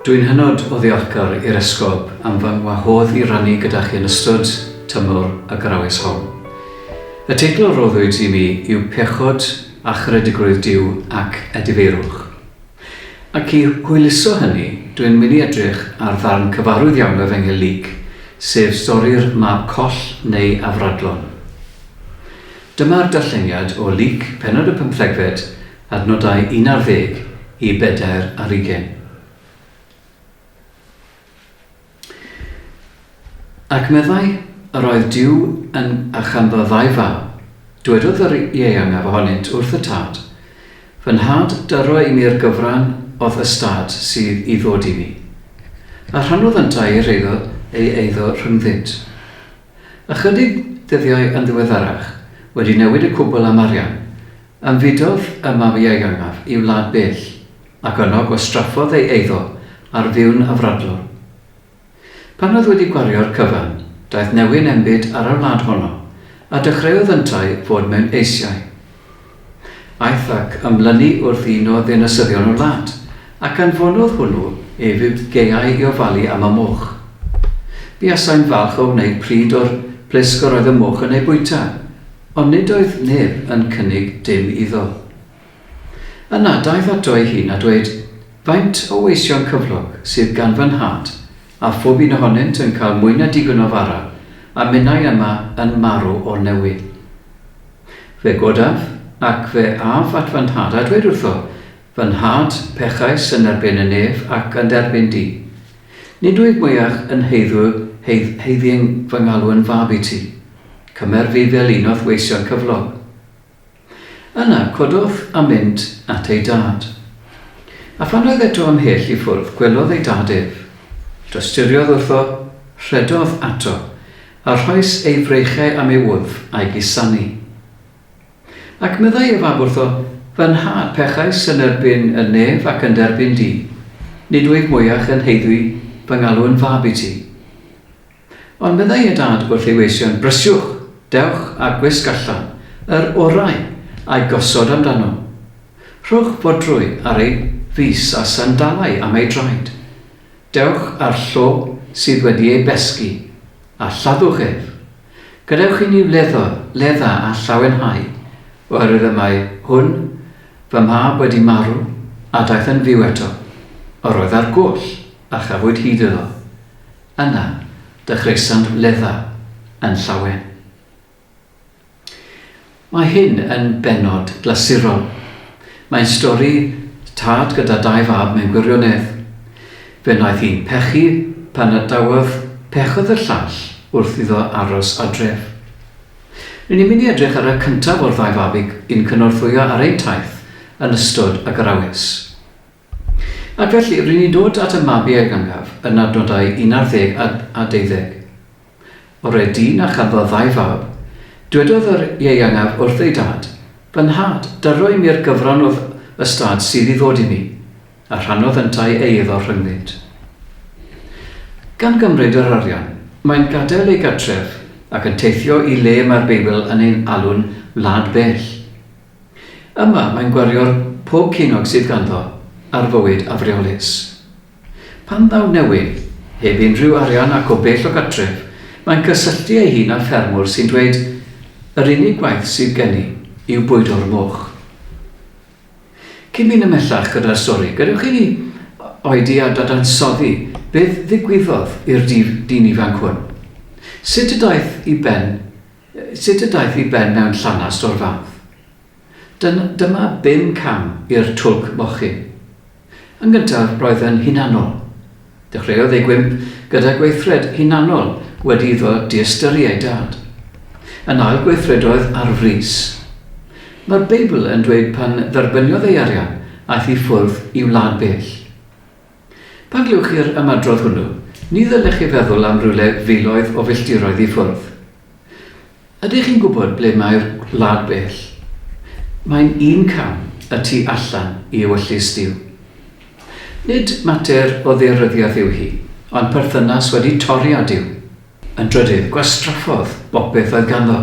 Dw i'n hynod o ddiolchgar i'r Esgob am fy ngwahodd i rannu gyda chi yn ystod tymor y Garawys hon. Y teitl a roddwyd i mi yw Pechod a Charedigrwydd Duw ac Edifeirwch. Ac i hwyluso hynny, dw i'n mynd i edrych ar ddarn cyfarwydd iawn o Efengyl Luc, sef stori'r mab coll neu afradlon. Dyma'r darlleniad o Luc, pennod y pymthegfed, adnodau un ar ddeg i bedair ar ugain. Ac meddai, Yr oedd Duw yn archamba ddau fab. Dwedodd yr ieuangaf ohonynt wrth y tad, Fy nhad, dyro i mi'r gyfran o'th ystâd sydd i ddod i mi. A rhannodd yntau i'r eiddo ei eiddo rhyngddynt. Ychydig ddyddiau yn ddiweddarach, wedi newid y cwbl am arian, ymfudodd y mab-ieuangaf i wlad bell, ac yno gwastraffodd ei eiddo ar fuw'n afradlwr. Pan oedd wedi gwario'r cyfan, daeth newyn enbyd ar y wlad honno, a dechreuodd yntau fod mewn eisiau. Aeth ac ymlynu wrth un o ddinasyddion y wlad, ac anfonodd hwnnw ef i'w gaeau i ofalu am y moch. Buasai'n falch o wneud pryd o'r plisg yr oedd y moch yn ei bwyta, ond nid oedd neb yn cynnig dim iddo. Yna daeth ato ei hun a dweud, Faint o weision cyflog sydd gan fy nhad, a phob un ohonynt yn cael mwy na digon o fara, a minnau yma yn marw o'r newydd. Fe godaf, ac fe af at fy nhad, a dwed wrtho, Fy nhad, pechais yn erbyn y nef ac yn d'erbyn di. Nid wyf mwyach yn haeddu haeddieng fy ngalw yn fab i ti. Cymer fi fel un o'th weision cyflog. Yna cododd a mynd at ei dad. A phan oedd eto ymhell i ffwrdd, gwelodd ei dad ef. Dosturiodd wrtho, rhedodd ato, A rhoes ei frechau am ei wddf a'i gusanu. Ac meddai ef ab wrtho, Fy nhad, pechais yn erbyn y nef ac yn d'erbyn di, nid wyf mwyach yn haeddu fy ngalw yn fab i ti. Ond meddai ei dad wrth ei weision, Brysiwch, dewch a gwisg allan yr orau a'i gosod am dano. Rhowch fodrwy ar ei fys a sandalau am ei draed. Dewch â'r llo sydd wedi ei besgi, a lladdwch ef. Gadewch i ni wleddo, ledda a llawenhau, oherwydd y mae hwn, fy mhab, wedi marw, a daeth yn fyw eto. Yr oedd ar goll, a chafwyd hyd iddo. Yna, dechreuasant wledda yn llawen. Mae hyn yn bennod glasurol. Mae'n stori tad gyda dau fab mewn gwirionedd. Fe wnaeth un pechu pan adawaf, pechodd y llall wrth iddo aros adref. Ry'n ni'n mynd i edrych ar y cyntaf o'r ddau fab yn cynorthwyo ar ein taith yn ystod y Garawys. Ac felly, ry'n ni'n dod at y mabi a'i gangaf yn adnodau un ar ddeg a a deuddeg. Oreu dyn a chanddodd ddau fab. Dwedodd yr ieuangaf wrth ei dad, Fy nhad, daro i mi'r gyfran o'th ystâd sydd i ddod i mi. A rhannodd yntau ei iddo rhyngddynt. Gan gymryd yr arian, mae'n gadael ei gartref ac yn teithio i le mae'r Beibl yn ein alw'n wlad bell. Yma, mae'n gwario'r pob ceiniog sydd ganddo ar fywyd afreolus. Pan ddaw Newyn, heb unrhyw arian ac o bell o gartref, mae'n cysylltu ei hun â ffermwr sy'n dweud, Yr unig gwaith sydd gen i yw bwydo'r moch. Cyn mynd ymhellach gyda'r stori, gadewch i ni oedi a dadansoddi beth ddigwyddodd i'r dyn ifanc hwn. Sut y daeth i ben Sut y daeth i ben mewn llanast o'r fath? Dyn, dyma bum cam i'r twlc mochyn. Yn gyntaf, roedd yn hunanol. Dechreuodd ei gwymp gyda gweithred hunanol wedi iddo diystyru ei dad. Yn ail gweithredoedd ar frys. Mae'r Beibl yn dweud pan dderbyniodd ei arian, aeth i ffwrdd i wlad bell. Pan glywch chi'r ymadrodd hwnnw, ni ddylech chi feddwl am rywle filoedd o filltiroedd i ffwrdd. Ydych chi'n gwybod ble mae'r Gwlad Bell? Mae'n un cam y tu allan i ewyllys Duw. Nid mater o ddaearyddiaeth yw hi, ond perthynas wedi torri â Duw. Yn drydydd, gwastraffodd bob beth oedd ganddo.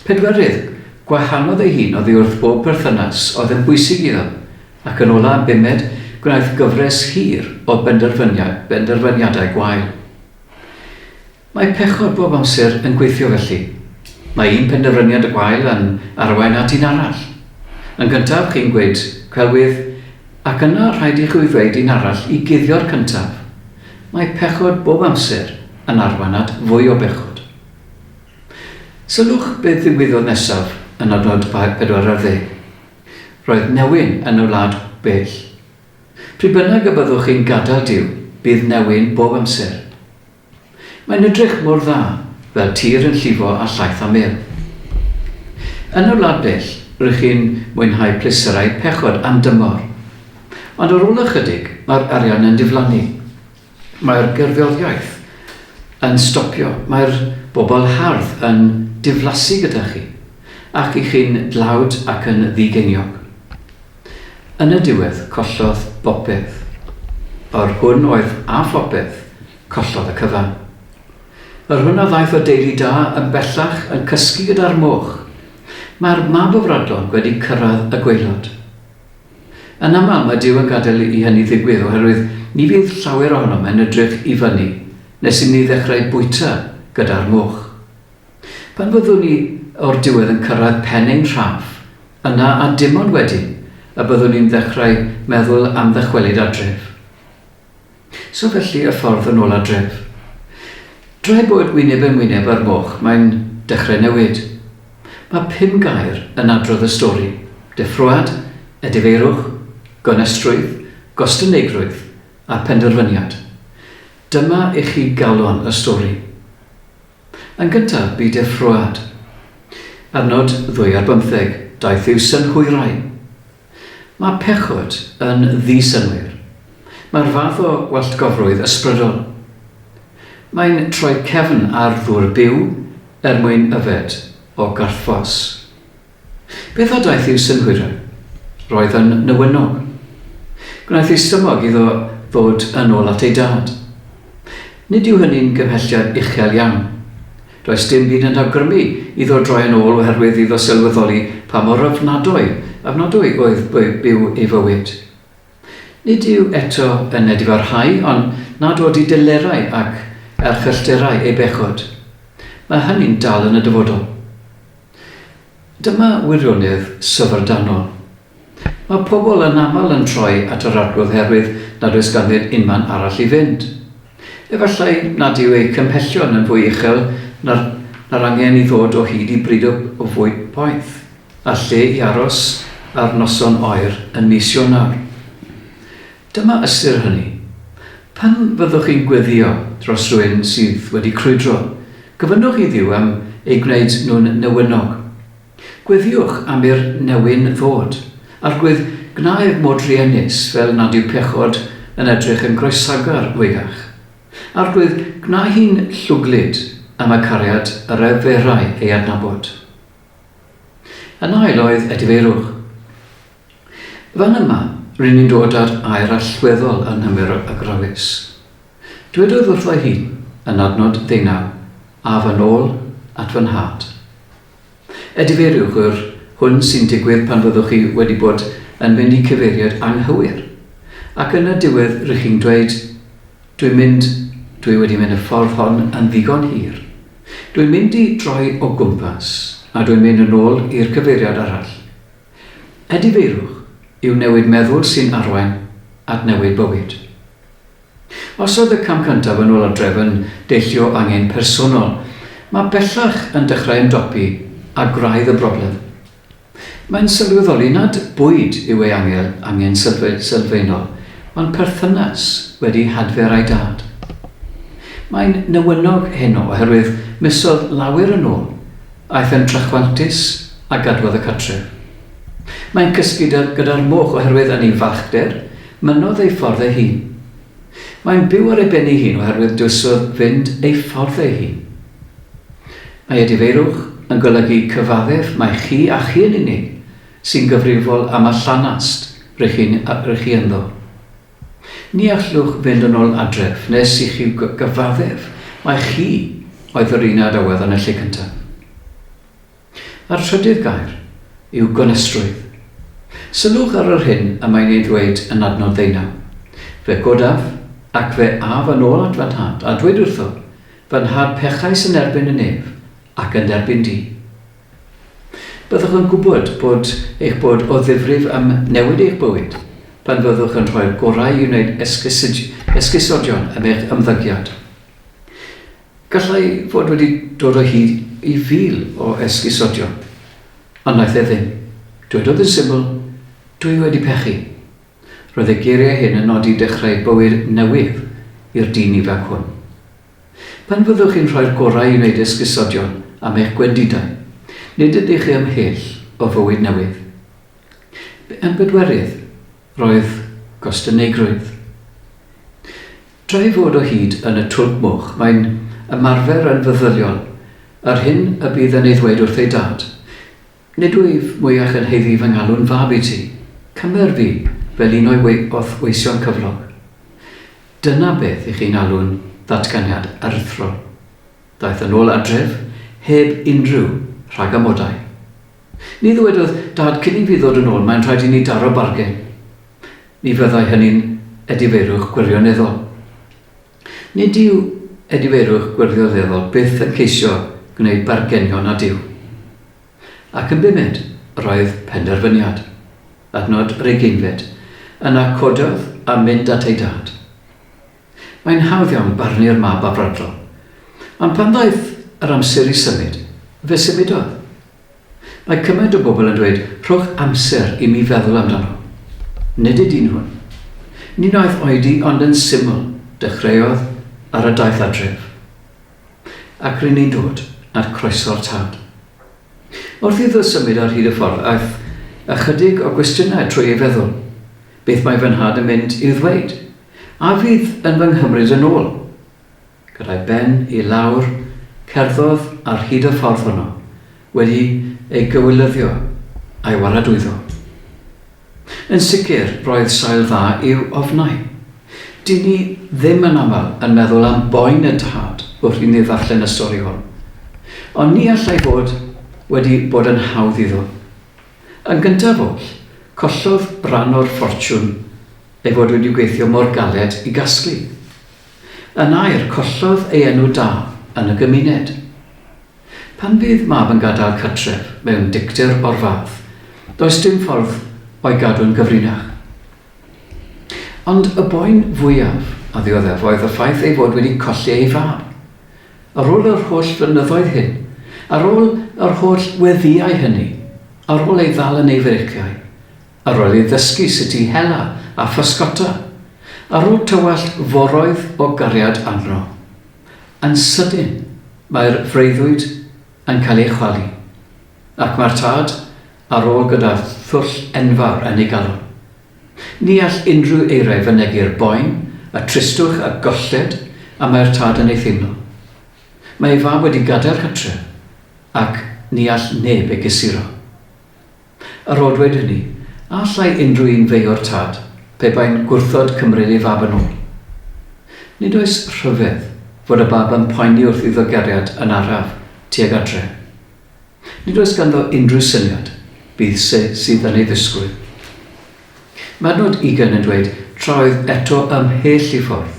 Pedwerydd, gwahanodd ei hun oddi wrth bob perthynas oedd yn bwysig iddo. Ac yn ola, bumed, gwnaeth gyfres hir o benderfyniad, benderfyniadau gwael. Mae pechod bob amser yn gweithio felly. Mae un penderfyniad gwael yn arwain at un arall. Yn gyntaf, chi'n gweud, 'Celwydd, Ac yna rhaid i chwi ddweud un arall i guddio'r cyntaf, mae pechod bob amser yn arwain at fwy o bechod. Sylwch beth ddigwyddodd nesaf yn adnod pedwar ar ddeg. Roedd newyn yn y wlad bell. Pryd bynnag y byddwch chi'n gadael Duw, bydd newyn bob amser. Mae'n edrych mor dda, fel tir yn llifo â llaeth a mêl. Yn y wlad bell, rŷch chi'n mwynhau pleserau pechod am dymor. Ond ar ôl ychydig, mae'r arian yn diflannu. Mae'r gerddoriaeth yn stopio, mae'r bobl hardd yn diflasu gyda chi, ac 'y chi'n dlawd ac yn ddi-geiniog. Yn y diwedd, collodd bopeth. Yr hwn oedd â phopeth, collodd y cyfan. Yr hwn a ddaeth o deulu da yn bellach yn cysgu gyda'r moch. Mae'r mab o Fradlon wedi cyrraedd y gwaelod. Yn aml mae Duw yn gadael i hynny ddigwydd oherwydd ni fydd llawer ohonom yn edrych i fyny nes i ni ddechrau bwyta gyda'r moch. Pan fyddwn ni o'r diwedd yn cyrraedd pen ein rhaff, Yna a dim ond wedyn y byddwn i'n ddechrau meddwl am ddychwelyd adref. So felly y ffordd yn ôl adref. Drwy bod wyneb yn wyneb â'r moch mae'n dechrau newid. Mae pum gair yn adrodd y stori, deffroad, edifeirwch, gonestrwydd, gostyneigrwydd a phenderfyniad. Dyma i chi galon y stori. Yn gyntaf, bu deffroad. Ar nod ddwy ar bymtheg, daeth i'w synhwyrau. Mae pechod yn ddi-synnwyr. Mae'r fath o walltgofrwydd ysbrydol. Mae'n troi cefn ar ddŵr byw er mwyn yfed o garthffos. Beth a daeth i'w synhwyrau? Roedd yn newynog. Gwnaeth ei stumog iddo ddod yn ôl at ei dad. Nid yw hynny'n gymhelliad uchel iawn. Does dim byd yn awgrymu iddo droi yn ôl oherwydd iddo sylweddoli pa mor ofnadwy, ofnadwy oedd byw ei fywyd. Nid yw eto yn edifarhau ond nad oedi delerau ac erchyllterau ei bechod. Mae hynny'n dal yn y dyfodol. Dyma wirionedd syfrdanol. Mae pobl anaml yn troi at yr Arglwydd herwydd nad oes ganddyn unman arall i fynd. Efallai nad yw eu cymhellion yn fwy uchel na'r na'r angen i ddod o hyd i bryd o fwyd poeth. A lle i aros ar noson oer yn mis Ionawr? Dyma ystyr hynny. Pan fyddwch chi'n gweddïo dros rywun sydd wedi crwydro, gofynnwch i Dduw am eu gwneud nhw'n newynog. Gweddïwch am i'r newyn ddod. Arglwydd, gwna ef fod druenus fel nad yw pechod yn edrych yn groesagar o'iach. Arglwydd, gwna hi'n llwglyd am y cariad yr eferai ei adnabod. Yn ail oedd edifeirwch. Fan yma, rŷn ni'n dod â'r air allweddol anghymwys o agrawys. Dwedodd wrtho'i hun, yn adnod ddeunaw, A fy nôl at fy nhad. Edifeiriwch yr hwn sy'n digwydd pan fyddwch chi wedi bod yn mynd i cyfeiriad anghywir, ac yn y diwedd rŷch chi'n dweud, Dwi'n mynd, dwi wedi mynd y ffordd hon yn ddigon hir. Dwi'n mynd i droi o gwmpas a dwi'n mynd yn ôl i'r cyfeiriad arall. Edifeirwch yw newid meddwl sy'n arwain at newid bywyd. Os oedd y cam cyntaf yn ôl adref yn deillio angen personol, mae bellach yn dechrau ymdopi â gwraidd y broblem. Mae'n sylweddoli nad bwyd yw ei angel angen sylfaenol, ond perthynas wedi hadfer â'i dad. Mae'n newynog heno oherwydd misoedd lawer yn ôl, aeth e'n trachwantus a gadwodd y cartref. Mae'n cysgu gyda'r moch oherwydd yn ei fachder, mynnodd ei ffordd ei hun. Mae'n byw ar ei ben ei hun oherwydd dywyswr fynd ei ffordd ei hun. Mae edifeirwch yn golygu cyfaddef mai chi a chi yn unig sy'n gyfrifol am y llanast rŷch chi'n rŷch chi ynddo. Ni allwch fynd yn ôl adref nes i chi gyfaddef mai chi oedd yr un a daweddon y lle cyntaf. A'r trydydd gair yw gonestrwydd. Sylwch ar yr hyn y mae'n ei ddweud yn adnod ddeunaw, Fe godaf, ac fe af yn ôl at fy nhad, a dweud wrtho, Fy nhad pechais yn erbyn y nef, ac yn erbyn di. Byddwch yn gwybod bod eich bod o ddifrif am newid eich bywyd pan fyddwch yn rhoi'r gorau i wneud esgusodion am eich ymddygiad. Gallai fod wedi dod o hyd i fil o esgusodion, ond wnaeth e ddim. Dwedodd yn syml, Dwi wedi pechu. Roedd ei geiriau hyn yn nodi dechrau bywyd newydd i'r dyn ifanc hwn. Pan fyddwch chi'n rhoi'r gorau i wneud esgusodion am eich gwendidau, nid ydych chi ymhell o fywyd newydd. Yn bedwerydd, roedd gostyneigrwydd. Drwy fod o hyd yn y Twlc Moch, mae'n ymarfer yn feddyliol yr hyn y bydd yn ei ddweud wrth ei dad, Nid wyf mwyach yn haeddu fy ngalw'n fab i ti. Cymer fi fel un o'i wrth-weision cyflog. Dyna beth i chi'n alw'n ddatganiad aruthrol. Ddaeth yn ôl adref heb unrhyw rhagamodau. Ni ddywedodd dad cyn i fi ddod yn ôl mae'n rhaid i ni daro bargen. ni fyddai hynny'n edifeirwch gwirioneddol. Nid yw edifeirwch gwirioneddol byth yn ceisio gwneud bargenion â Duw. Ac yn bumed, roedd penderfyniad, adnod yr ugeinfed, yna cododd a mynd at ei dad. Mae'n hawdd iawn barnu'r mab afradlon, ond pan ddaeth yr amser i symud, fe symudodd. Mae cymaint o bobl yn dweud 'rhowch amser i mi feddwl amdano'. Nid ydyn nhw'n. Ni wnaeth oedi ond yn syml, dechreuodd ar y daith adref. Ac ry'n ni'n dod at croeso'r tad. Wrth iddo symud ar hyd y ffordd aeth ychydig o gwestiynau trwy ei feddwl, 'Beth mae fy nhad yn mynd i'w ddweud? A fydd yn fy nghymryd yn ôl? Gyda'i ben i lawr, cerddodd ar hyd y ffordd honno, wedi ei gywilyddio a'i waradwyddo. Yn sicr, roedd sail dda i'w ofnau. Dŷn ni ddim yn aml yn meddwl am boen y tad wrth i ni ddarllen y stori hwn. Ond ni allai fod wedi bod yn hawdd iddo. Yn gyntaf oll, collodd ran o'r ffortiwn ei fod wedi gweithio mor galed i gasglu. Yn air, collodd ei enw da yn y gymuned. Pan fydd mab yn gadael cartref mewn dicter o'r fath, does dim ffordd o'i gadw'n gyfrinach. Ond y boen fwyaf a ddioddef oedd y ffaith ei fod wedi colli ei fab. Ar ôl yr holl flynyddoedd hyn, ar ôl yr holl weddïau hynny, ar ôl ei ddal yn ei freiciau, Ar ôl i ddysgu sut i hela a physgota, ar ôl tywallt foroedd o gariad arno, yn sydyn mae'r freuddwyd yn cael ei chwalu, ac mae'r tad ar ôl gyda thwll enfawr yn ei galon. Ni all unrhyw eiriau fynegi'r boen, y tristwch a golled y mae'r tad yn ei theimlo. Mae ei fab wedi gadael cartref, ac ni all neb ei gysuro. A rhoddwyd hynny, a allai unrhyw un feio'r tad, pe bai'n gwrthod cymryd ei fab yn ôl? Nid oes rhyfedd fod y bab yn poeni wrth iddo gariad yn araf tuag adre. Nid oes ganddo unrhyw syniad bydd se sydd yn ei ddisgwyl. Mae adnod ugain yn dweud, Tra oedd eto ymhell i ffwrdd,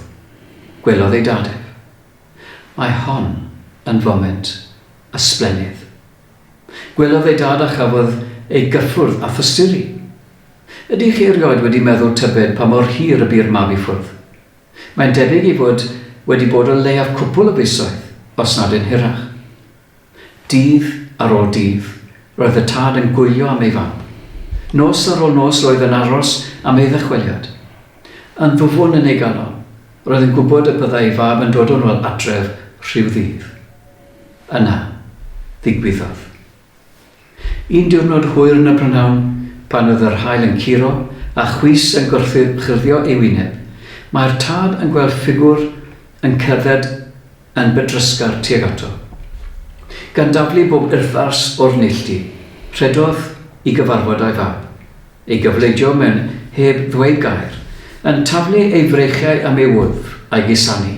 gwelodd ei dad ef. Mae hon yn foment ysblennydd. Gwelodd ei dad a chafodd ei gyffwrdd a physteri. Ydy chi erioed wedi meddwl tybed pa mor hir y bu'r mab i ffwrdd? Mae'n debyg ei fod wedi bod o leiaf cwpwl o fisoedd, os nad yn hirach. Dydd ar ôl dydd, roedd y tad yn gwylio am ei fab. Nos ar ôl nos roedd yn aros am ei ddychweliad. Yn ddwfwn yn ei galon, roedd yn gwybod y byddai ei fab yn dod yn ôl adref rhyw ddydd. Yna, ddigwyddodd. Un diwrnod hwyr yn y prynhawn, pan oedd yr haul yn curo a chwys yn gorchuddio'i wyneb, mae'r tad yn gweld ffigwr yn cerdded yn bydrysgar tuag ato. Gan daflu bob urddars o'r neilltu, rhedodd i gyfarfod â'i fab. ei gyfleidio mewn heb ddweud gair, yn taflu ei freichiau am ei wddf, a'i gusanu.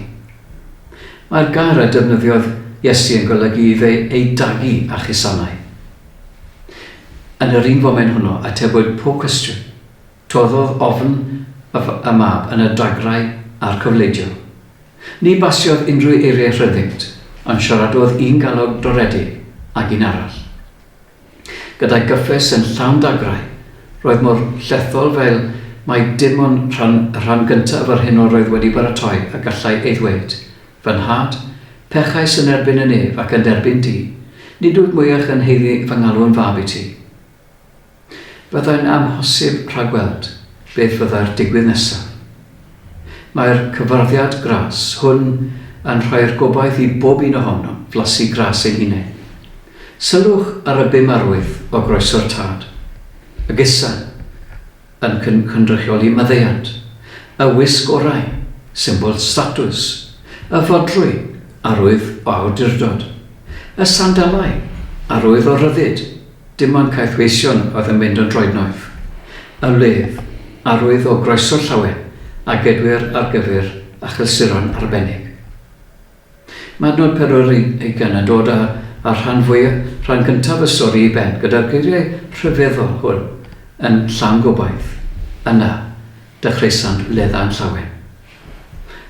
Mae'r gair a defnyddiodd Iesu yn golygu i fe ei dagu â chusannau. Yn yr un foment hwnnw, atebwyd pob cwestiwn. Toddodd ofn y Mab yn y dagrau a'r cyfleidion. Ni basiodd unrhyw eiriau rhyddingt, ond siaradodd un galog doredig ag un arall. Gyda'i gyffes yn llawn dagrau, roedd mor llethol fel mai dim ond rhan, y rhan gyntaf yr hyn yr oedd wedi baratoi a gallai ei ddweud. Fy nhad, pechais yn erbyn y nef ac yn d'erbyn di. Nid wyf mwyach yn haeddu fy ngalw'n fab i ti. Fyddai'n amhosib rhagweld beth fyddai'r digwydd nesaf. Mae'r cyfarwyddiad gras hwn yn rhoi'r gobaith i bob un ohonom flasu gras eu hunain. Sylwch ar y bum arwydd o groeso'r Tad, y gesa, yn cynrychioli maddeuant, y wisg orau, symbol statws, y fodrwy, arwydd o awdurdod, y sandalau, arwydd o ryddid, dim ond caethweision oedd yn mynd yn droednoeth, y wledd, arwydd o groeso llawen a gedwir ar gyfer achlysuron arbennig. Mae adnod pedwar ar ugain yn dod â'r rhan fwya', rhan gyntaf y stori i ben, gyda'r geiriau rhyfeddol hwn yn llawn gobaith, Yna, dechreuasant wledda'n llawen.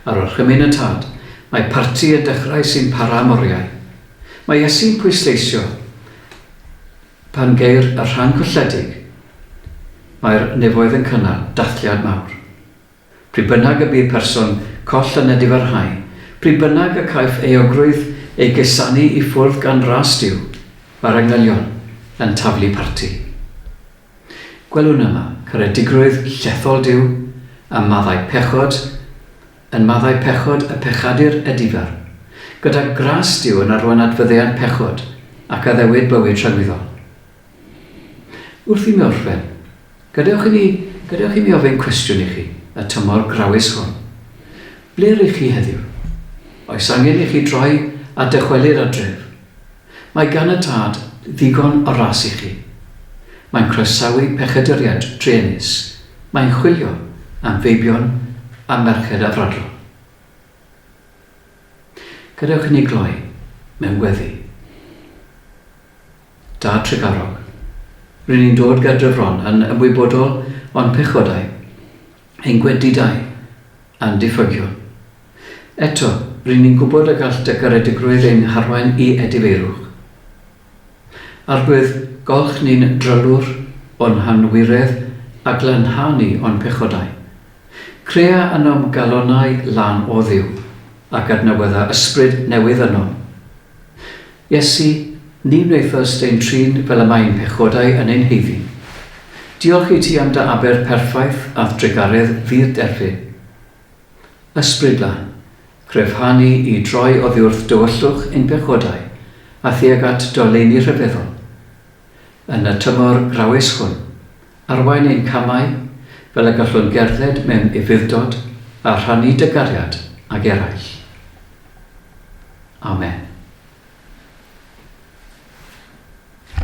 Ar orchymyn y tad, mae parti yn dechrau sy'n para am oriau. Mae Iesu'n pwysleisio pan geir y rhan colledig, Mae'r nefoedd yn cynnal dathliad mawr. Pryd bynnag y bydd person coll yn edifarhau, pryd bynnag y caiff euogrwydd ei gesannu i ffwrdd gan ras Duw, mae'r angylion yn taflu parti. Gwelwn yma caredigrwydd llethol Duw ym maddau pechod, yn maddau pechod y pechadur edifar, gyda gras Duw yn arwain at faddeuant pechod ac addewid bywyd rhagwyddol. Wrth i mi orffen, gadewch i mi, gadewch i mi ofyn cwestiwn i chi, y tymor grawys hwn. Ble rŷch chi heddiw? Oes angen i chi droi a dychwelyd adref? Mae gan y Tad ddigon o ras i chi. Mae'n croesawu pechaduriaid druenus, mae'n chwilio am feibion a merched afradlon. Gadewch i ni gloi mewn gweddi. Da Tregarog. Ry'n ni'n dod ger Dyfron yn ymwybodol o'n pechodau, ein gwendidau a'n diffygion. Eto, ry'n ni'n gwybod y gall dy garedigrwydd ein harwain i edifeirwch. Arglwydd, gawch ni'n drylwr o'n hanwiredd a glanha ni o'n pechodau. Crea ynom galonnau lân o Dduw, ac adnewydda ysbryd newydd ynom. Iesu, ni wnaethast ein trin fel y mae ein pechodau yn ein haeddu. Diolch i ti am dy aber perffaith a'th drugaredd ddirdderfyn. Ysbryd Lan, cryfha ni i droi oddiwrth dywyllwch ein pechodau a thuag at dy oleuni rhyfeddol. Yn y tymor grawes hwn, Arwain ein camau, fel y gallwn gerdded mewn ufudd-dod a rhannu dy gariad ag eraill. Amen.